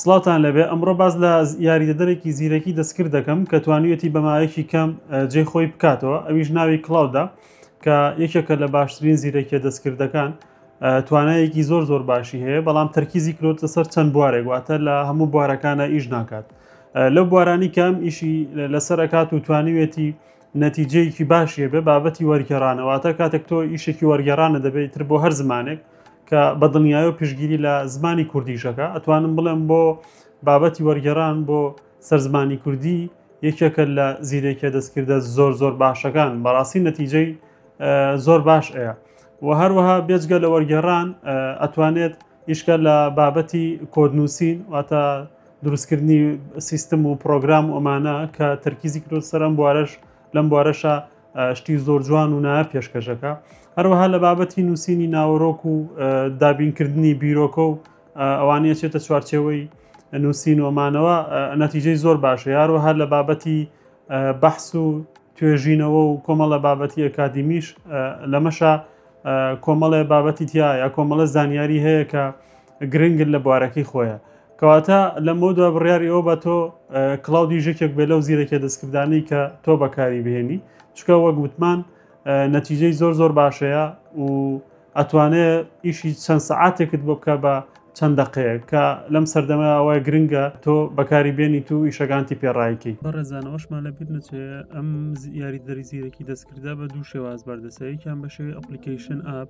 سڵاوتان لەبێ ئەمڕۆ باز لە یاریدەدەرێکی زیرەکی دەستکرد دەکەم کە توانیویەتی بەمایەکی کەم جێ خۆی بکاتەوە ئەویش ناوی کلااودا کە یەکێکە لە باشترین زیرەکیە دەستکردەکان توانایەکی زۆر زۆر باشی هەیە بەڵام تەرکیزی کرۆتە سەر چەند بوارێک واتە لە هەموو بوارەکانە ئیش ناکات لەو بوارانی کەم ئیشی لەسەر ئەکات و توانیوێتی نەتیجەیەکی باشی هەبێ بابەتی وەرگێڕانە واتە کاتێک تۆ ئیشێکی وەرگێڕانە دەبێت تر بۆ هەر زمانێک کە بە دڵنیایی و پشگیری لە زمانی کوردیشەکە ئەتوانم بڵێم بۆ بابەتی وەرگێڕان بۆ سەرزمانی کوردی یەکێکە لە زیرێکە دەستکردە زۆر زۆر باشەکان بەڕاستی نەتیجەی زۆر باش ئەیە و هەروەها بێجگە لە وەرگێڕان ئەتوانێت ئیشکە لە بابەتی کۆدنووسین واتە دروستکردنی سیستم و پرۆگرام و ئەمانە کە تەرکیزی کرۆ سەرم بوارەش لەم بوارەشە شتی زۆر جوان و نایە پێشکەشەکە هەروەها لە بابەتی نووسینی ناوەرۆک و دابینکردنی بیرۆکە و ئەوانە چێتە چوارچەوەی نووسین ومانەوە نەتیجەی زۆر باشە یاروەها لە بابەتی بەحس و توێژینەوە و کۆمەڵە بابەتی ئەکادیمیش لەمەشە کۆمەڵێ بابەتی تیا یا کۆمەڵە زانیاری هەیە کە گرنگ لە بوارەکەی خۆیە. کەواتە لەمەودوا بڕیاری ئەوە بە تۆ کڵاو دیژەکێک بێ لەو زیرەکێ دەستکردانەی کە تۆ بەکاری بهێنی چکە وەک وتمان نەتیجەی زۆر زۆر باشەیە و ئەتوانێ ئیشی چەند سەعاتێکت بۆ بکە بە چەند دەقەیە کە لەم سەردەمە ئەوەیە گرنگە تۆ بەکاری بێنی تو ئیشەکانتی پێڕایکی بەڕێزانەوەشمان لە بیر نەچێ ئەم یاری دەری زیرەکی دەستکردا بە دوو شێواز بەردەسەیەکیان بەشێوی ئەپلیکیشن ئاپ